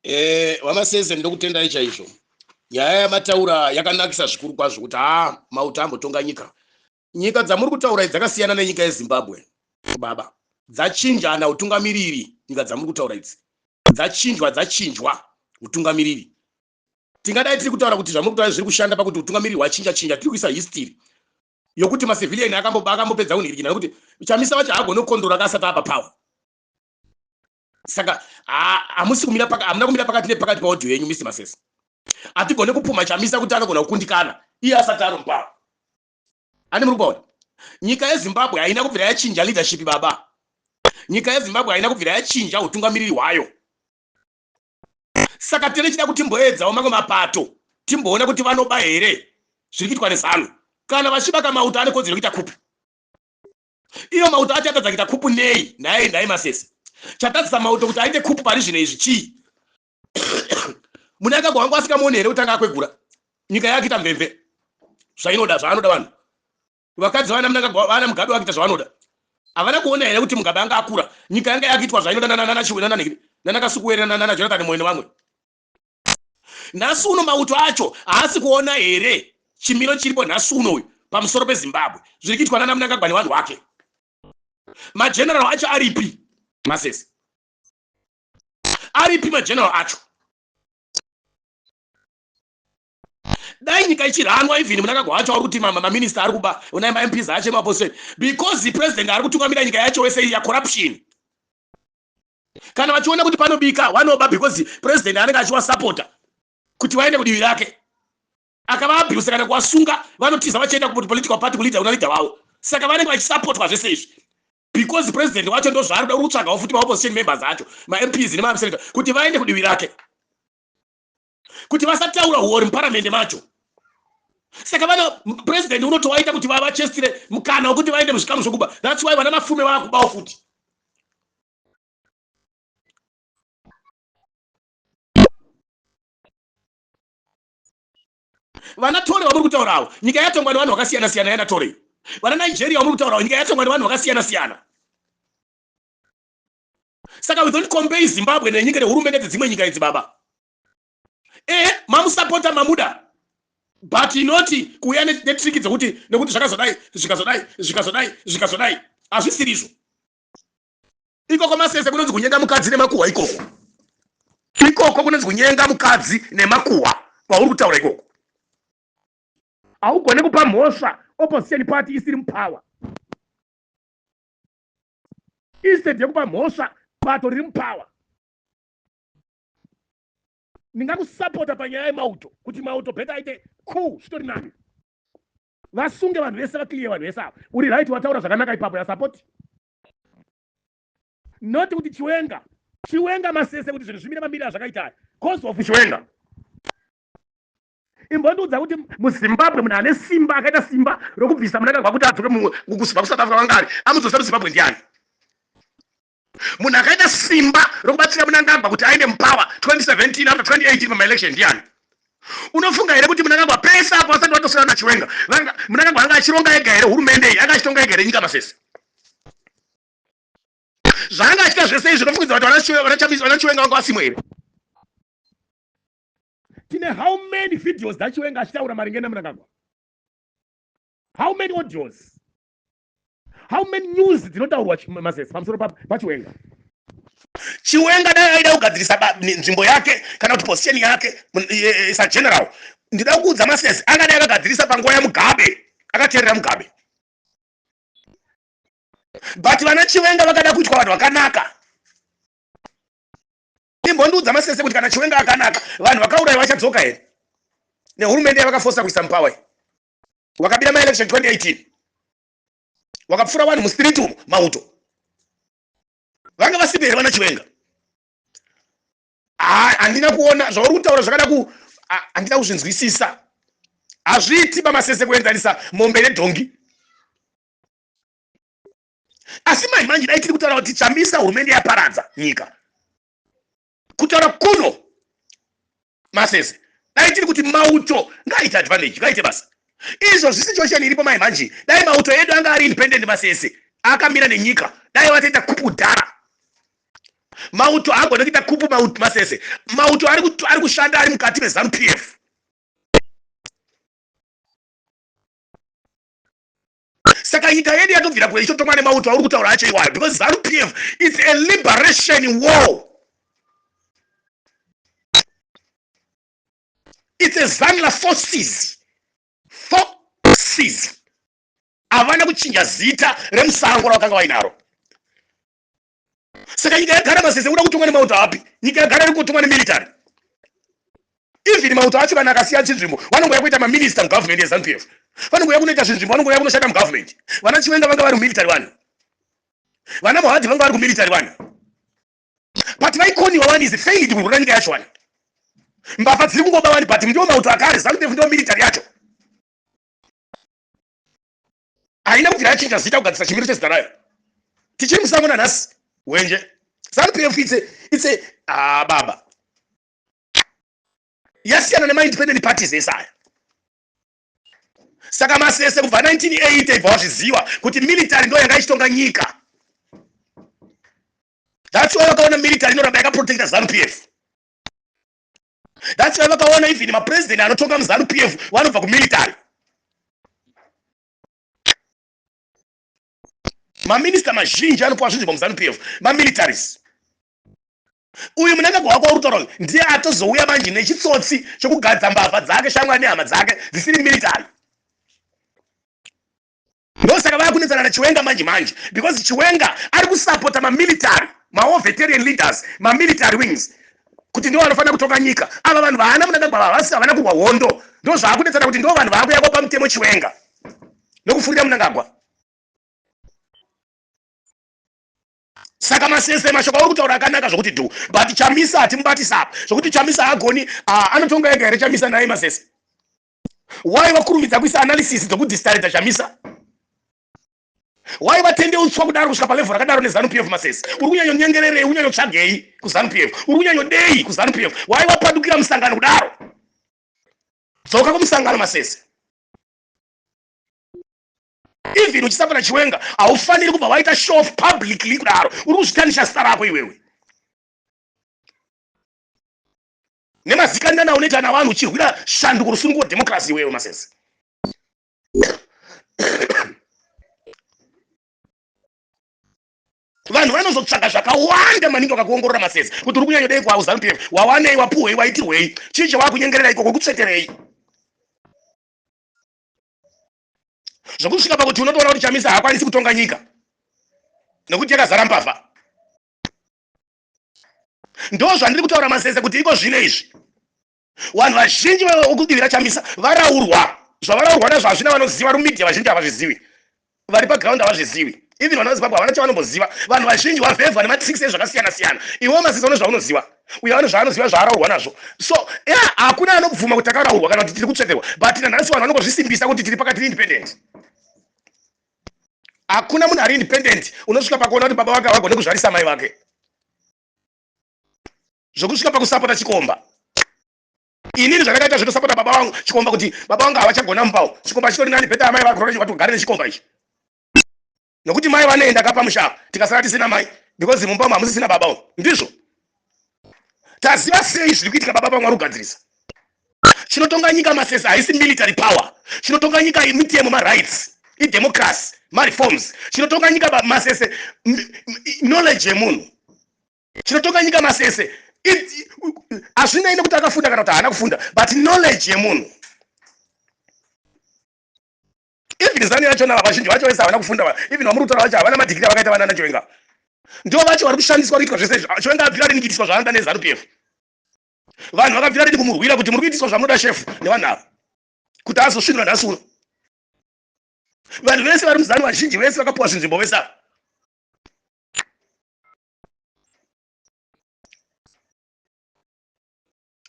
eh wamaseze ndokutendai chaizvo nyaya yamataura yakanakisa zvikuru kwazvo kuti haa mauta ambotonga nyika nyika dzamuri kutaura dzakasiyana nenyika yezimbabwe baba dzachinjana utungamiriri nyika dzamuri kutaura idzi dzachinjwa dzachinjwa utungamiriri tingadai tiri kutaura kuti zvamuri kutaura zviri kushanda pakuti utungamiriri hwachinja chinja tiri kuisa history yokuti macivilian akambopedza kunhirikina nokuti chamisa vacho hagone kukondora ka asati apa power saka hamusi kumira pakati hamuna kumira pakati nepakati paaudio yenyu mr masese hatigone kupumha chamisa kuti anogona kukundikana iye asati ari muparo ani muri kuona nyika yezimbabwe haina kubvira yachinja leadership baba nyika yezimbabwe haina kubvira yachinja utungamiriri hwayo saka tene chida kuti mboedzawo mamwe mapato timboona kuti vanoba here zviri kuitwa nezanu kana vachibaka mauto ane kodzero kuita kupi Iyo mauto acho atadza kuita khupu nei? Nhai, nhai Masese. Chatadzisa mauto kuti aite khupu pari zvino izvi chii? Munangagwa wangu asikamuoni here kutanga akwegura? Nyika yake ita mvemve. Zvainoda, zvaanoda vanhu. Vakadzi vana Mnangagwa, vana Mugabe vakuita zvavanoda. Havana kuona here kuti Mugabe anga akura? Nyika yanga yakuitwa zvainoda nana Chiwe nana Nhikiri, nana Kasukuwere nana Jonathan Moyo nevamwe. nhasi uno mauto acho haasi kuona here chimiro chiripo nhasi uno uyu pamusoro pezimbabwe zviri kuitwa nana munangagwa nevanhu wake mageneral acho aripi masese aripi mageneral acho dai nyika ichiranwa even munangagwa wacho ari kuti maminista ari kuba unai mamps acho emapostori because president ari kutungamira nyika yacho wese ya corruption kana vachiona kuti panobika wanoba because president anenge achiwasapota kuti vaende kudivi rake akavaabuse kana kuwasunga vanotiza vachienda kupolitical party kuleader una leader wavo saka vanenge vachisapotwa zvese izvi because president wacho ndo zvaari kuda uri kutsvagawo futi maopposition members acho mamps nemamsenator kuti vaende kudivi rake kuti vasataura huori muparamende macho saka vana president unotowaita kuti vavachestire mukana wekuti vaende muzvikamu zvokuba thats why vana mafume vakubawo futi vana tore vamuri kutaurawo nyika yatongwa nevanhu vakasiyana siyana yana tore vana nigeria vamuri kutaurawo nyika yatongwa nevanhu vakasiyana siyana Saka we don't compare Zimbabwe nenyika nehurumende dzedzimwe nyika idzi baba. Ehe, mamusapota mamuda. But not kuuya netriki dzekuti nekuti zvakazodai, zvikazodai, zvikazodai, zvikazodai. Hazvisiri izvo. Ikoko masese kunonzi kunyenga mukadzi nemakuhwa ikoko. Ikoko kunonzi kunyenga mukadzi nemakuhwa kwauri kutaura ikoko. Haugone kupa mhosva opposition party isiri mupower. instead yekupa mhosva bato riri mupower ndingakusapota panyaya yemauto kuti mauto beta aite cool zvitori nani vasunge vanhu vese vaclear vanhu vese ava uri right wataura zvakanaka ipapo yasapoti not kuti chiwenga chiwenga masese kuti zvinhu zvimire mamiri azvakaita cause of chiwenga imbondiudza kuti muzimbabwe munhu ane simba akaita simba rokubvisa munangagwa kuti adzoke mumwe kubva kusouth africa vanga ari amudzosera muzimbabwe ndiani munhu akaita simba rokubatsira munangagwa kuti aende mupower 2017 after 2018 pamaelection ndiani unofunga here kuti munangagwa pese apo vasati vatosiyana nachiwenga munangagwa anga achironga ega here hurumende iyi anga achitonga ega here nyika masese zvaanga achita zvese izvi unofungidza kuti vanachiwenga vanga vasimwe here tine how many videos dzachiwenga achitaura maringe nemnangagwa how many audios how many news dzinotaurwa mazes pamusoro pachiwenga chiwenga dai aida kugadzirisa nzvimbo yake kana kuti position yake sageneral ndida kuudza masesi angadai akagadzirisa panguva yamugabe akateerera mugabe but vana chiwenga vakada kuitwa vanhu vakanaka imbondiudza masese kuti kana chiwenga akanaka vanhu vakauraya vachadzoka here nehurumende yavakafosa kuisa mupower iyi wakabira maelection 2018 wakapfura vanhu mustreet umo mauto vanga vasipi here vana chiwenga handina kuona zvauri kutaura zvakada ku handina kuzvinzwisisa hazviiti pamasese kuenzanisa mombe nedhongi asi mai manje dai tiri kutaura kuti chamisa hurumende yaparadza nyika kutaura kuno masese dai tiri kuti mauto ngaaite advantage ngaaite basa izvo zvisi chosheni iripo mai manje dai mauto edu anga ari independent masese akamira nenyika dai vatoita kupu dhara mauto haagone kuita kupu mauto masese mauto ari kushanda ari mukati mezanu p f Saka nyika yedu yatobvira kure ichotongwa nemauto auri kutaura acho iwayo because Zanu PF it's a liberation war. It's a Zanla forces. Forces. Havana kuchinja zita remusango ravakanga vainaro. saka nyika yagara masese kuda kutongwa nemauto api nyika yagara iri kutongwa nemilitary even mauto acho kana akasiya chinzvimbo vanongouya kuita maminista mugovernment yezanu pf vanongouya kunoita zvinzvimbo vanongouya kunoshanda mugovernment vana chiwenga vanga vari mumilitary vanhu vana mohadhi vanga vari kumilitary vanhu but vaikoniwa wani is failed kurwura nyika yacho wani mbavha dziri kungoba wani but ndiwo mauto akare zanu pf ndiwo military yacho haina kuti rachinja zita kugadzisa chimiro chezita rayo tichiri musango nanhasi wenje zanupf itse itse ah, baba yasiyana nemaindependent parties ese aya saka masese kubva 1980 ibva wazviziva kuti military ndo yanga ichitonga nyika that's why vakaona military inoramba yakaprotecta zanupf That's why vakaona even ma president anotonga mu Zanu PF vanobva ku military. Ma minister mazhinji anopuwa zvinzvimbo mu Zanu PF ma militaries. Uyu munangagwa wako uri kutaura uyu ndiye atozouya manje nechitsotsi chekugadza mbavha dzake shamwari nehama dzake dzisiri military. ndosaka vakunetsana nachiwenga manje manje because chiwenga ari kusapota mamilitary mawo veterian leaders mamilitary wings kuti ndivo vanofanira kutonga nyika ava vanhu vaana munangagwa vavasi havana kurwa hondo ndo zvaakunetsana kuti ndo vanhu vaakuyakwa pamutemo chiwenga nokufurira munangagwa saka masese mashoko auri kutaura akanaka zvokuti dhu but chamisa hatimubatisa apa zvokuti chamisa haagoni ah, anotonga ega here chamisa naye masese why vakurumidza kuisa analysis dzokudistareta chamisa why vatende utswa kudaro kusvika palevel rakadaro nezanu p f mases uri kunyanyonyengererei unyanyotsvagei kuzanu p f uri kunyanyodei kuzanu p f why wapadukira musangano kudaro dzoka kumusangano masese even uchisapota chiwenga haufaniri kubva waita show of publicly kudaro uri kuzvitanisha zita rako iwewe nemazikanana aunoita navanhu uchirwira shanduko rusunungu wedemocracy iwewe masese vanhu vanozotsvaga zvakawanda maningi vakakuongorora masese kuti uri kunyanyodei kwauzanu pf wawanei wapuhwei waitirwei chii chawakunyengerera ikoko kutsveterei zvokusvika pakuti unotoona kuti chamisa haakwanisi kutonga nyika nekuti yakazara mbavha Ndo zvandiri kutaura mazeze kuti iko zvino izvi. Wanhu vazhinji vekudivira Chamisa varaurwa. Zvavaraurwa nazvo hazvina vanoziva ru media vazhinji havazvizivi. Vari pa ground havazvizivi. Even vana veZimbabwe havana chavanomboziva. Vanhu vazhinji wavhevhwa nema tricks ezvakasiyana siyana. Iwewo mazeze une zvaunoziva. Uyo ane zvaanoziva zvaaraurwa nazvo. So yeah hakuna anobvuma kuti takaraurwa kana kuti tiri kutsveterwa but nanhasi vanhu vanongozvisimbisa kuti tiri pakati independent. Hakuna munhu ari independent unosvika pakuona kuti baba vake havagone kuzvarisa mai vake. Zvokusvika pakusapota chikomba. Inini zvandakaita zvekutosapota baba vangu chikomba kuti baba vangu havachagona mupawo. Chikomba chitori nani better amai vako kuti ugare nechikomba ichi. Nokuti mai vanoenda ka pamusha apa tikasara tisina mai because mumba umu hamusisina baba umu. Ndizvo. taziva sei zviri kuitika baba pamwari kugadzirisa chinotonga nyika masesa haisi military power chinotonga nyika mitemo marights idemocracy mareforms chinotonga nyika masese knowledge yemunhu chinotonga nyika masese hazvinei nekuti akafunda kana kuti haana kufunda but knowledge yemunhu even zanu yachona ava vazhinji vacho vese havana kufunda even vamuri kutaura vacho havana madhigiri avakaita vanana chiwenga ndivo vacho vari kushandiswa kuitwa zvese izvi chiwenga abvira rini kuitiswa zvaanoda nezanu pf vanhu vakabvira rini kumurwira kuti muri kuitiswa zvamunoda shefu nevanhu ava kuti azosvinura nhasi uno vanhu vese vari muzanu vazhinji vese vakapuwa zvinzvimbo vese ava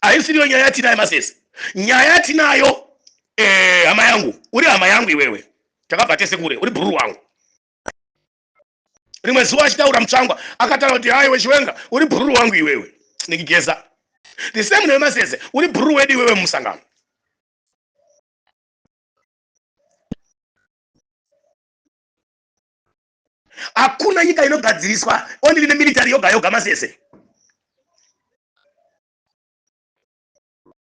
haisiriyo nyaya yatinayo masese nyaya yatinayo eh, hama yangu uri hama yangu iwewe takabva tese kure uri bhururu wangu rimwe zuva achitaura mutsvangwa akataura kuti hayi wechiwenga uri bhururu wangu iwewe nikigeza the same newe masese uri bhururu wedu iwewe mumusangano hakuna nyika inogadziriswa only nemilitary yoga yoga masese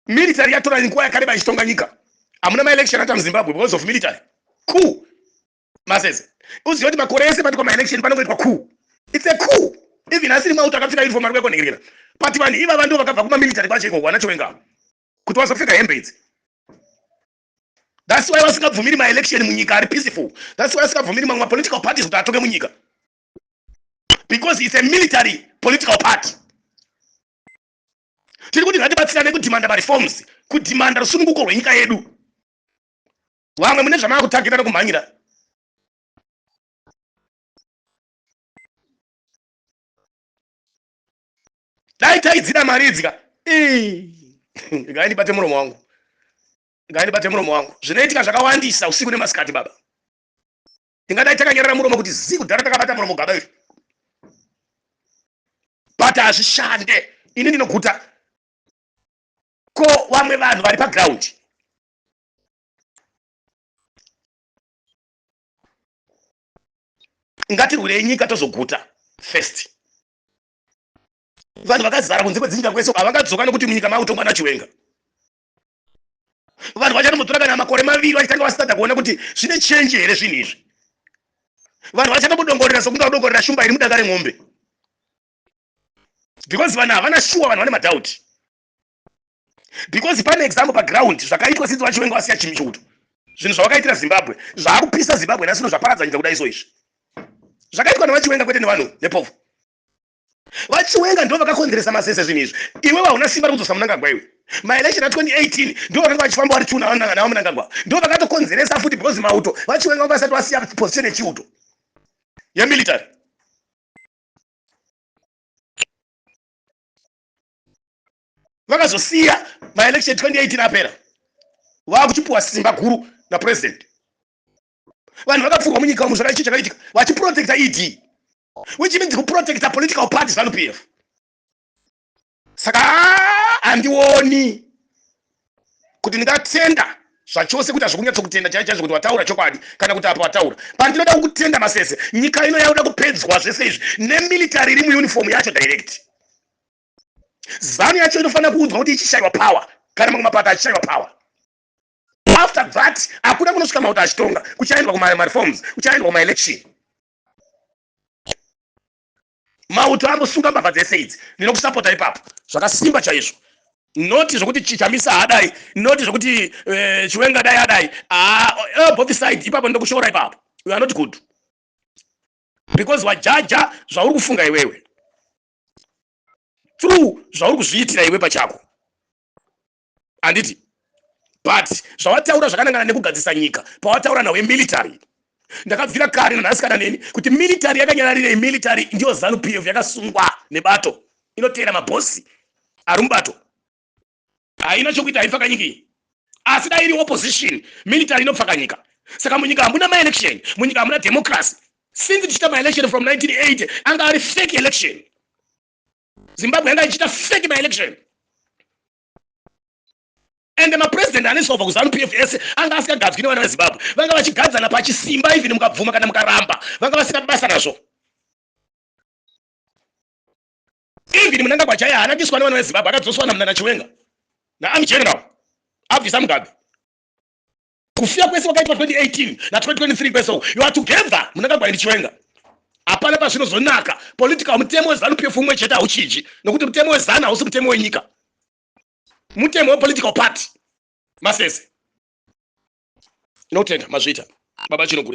military yatora nguva yakareba ichitonga nyika hamuna maelection ata muzimbabwe because of military cool masese uziva kuti makore ese pati kwamaelection panongoitwa cool its a cool even asiri mauto akapfeka uniform ari kuekonhekerera but vanhu ivava ndo vakabva kumamilitary kwacho iko wanachowenga kuti wazopfeka hembe idzi That's why vasingabvumiri ma election munyika ari peaceful. That's why vasingabvumiri mamwe ma political parties kuti atonge munyika. Because it's a military political party. Tiri kuti ngatibatsirane kudhimanda mareforms, kudhimanda rusununguko rwenyika yedu. Vamwe mune zvamava kutagira nekumhanyira. dai taidzida mari idzi ka ngaindibate muromo wangu ngaindibate muromo wangu zvinoitika zvakawandisa usiku nemasikati baba tingadai takanyarara muromo kuti zii kudhara takabata muromo gaba iri but hazvishande ini ndinoguta ko vamwe vanhu vari pagraundi ngatirwirei nyika tozoguta first vanhu vakazara kunze kwedzinyika kwese uko havakadzoka nokuti munyika maakutongwa nachiwenga vanhu vachatombotora kana makore maviri vachitanga vasada kuona kuti zvine chenji here zvinhu izvi vanhu vachatombodongorera sokunge vadongorera shumba iri mudanga remombe because vanhu havana shuwa vanhu vane madhauti because pane example paground zvakaitwa since vachiwenga vasiya chimi chouto zvinhu zvavakaitira zimbabwe zvaakupisa zimbabwe nasino zvaparadza nyika kudai so izvi zvakaitwa nevachiwenga kwete nevanhu nepovo vachiwenga ndo vakakonzeresa masese zvinhu izvi iwe vauna simba rekudzosa munangagwa iwe maelection a 2018 ndo vakanga vachifamba vari tuna navo munangagwa ndo vakatokonzeresa futi because mauto vachiwenga vanga vasati vasiya position yechiuto yemilitary vakazosiya maelection 2018 apera vakuchipuwa simba guru napresident vanhu vakapfurwa munyika umu zvakaichi chakaitika vachiprotecta ed which means kuprotecta political party zanu p f saka handioni kuti ndingatenda zvachose kuita zvokunyatsokutenda chai chaizvo kuti wataura chokwadi kana kuti apa wataura pandinoda kukutenda masese nyika ino yaoda kupedzwa zvese izvi nemilitary iri muuniform yacho direct zanu yacho inofanira kuudzwa kuti ichishaiwa power kana mamwe mapato achishaiwa power after that hakuna kunosvika mauto achitonga kuchaendwa kumareforms kuchaendwa kumaelection mauto ambosunga mbavha dzese idzi ndinokusapota ipapo zvakasimba chaizvo noti zvokuti chichamisa haadai noti zvokuti eh, chiwenga dai adai ah, eh, both side ipapo ndokushora ipapo you are not good because wajaja zvauri kufunga iwewe through zvauri kuzviitira iwe pachako handiti but zvawataura zvakanangana nekugadzisa nyika pawataura nawe military ndakabvira kare nanhasi kana neni kuti military yakanyararirei military ndiyo zanu p f yakasungwa nebato inoteera mabhosi ari mubato haina chokuita haipfaka nyika iyi asi dai iri opposition military inopfaka nyika saka munyika hamuna maelection munyika hamuna democracy since tichiita maelection from 1980 anga ari fake election zimbabwe yanga ichiita fake maelection and mapresident anesova kuzanu p f ese anga asikagadzwi nevana vezimbabwe vanga vachigadzana pachisimba even mukabvuma kana mukaramba vanga vasina basa nazvo Even Mnangagwa chaiye haana kuiswa nevana veZimbabwe akadzoswa naMnana Chiwenga naArmy General abvisa Mugabe. Kufiya kwese kwakaitwa 2018 na 2023 kwese uku you are together Mnangagwa and Chiwenga. Hapana pazvinozonaka political mutemo weZanu PF umwe chete hauchinji nokuti mutemo weZanu hausi mutemo wenyika. Mutemo wepolitical party masese. Tinotenda mazvita baba Chinogure.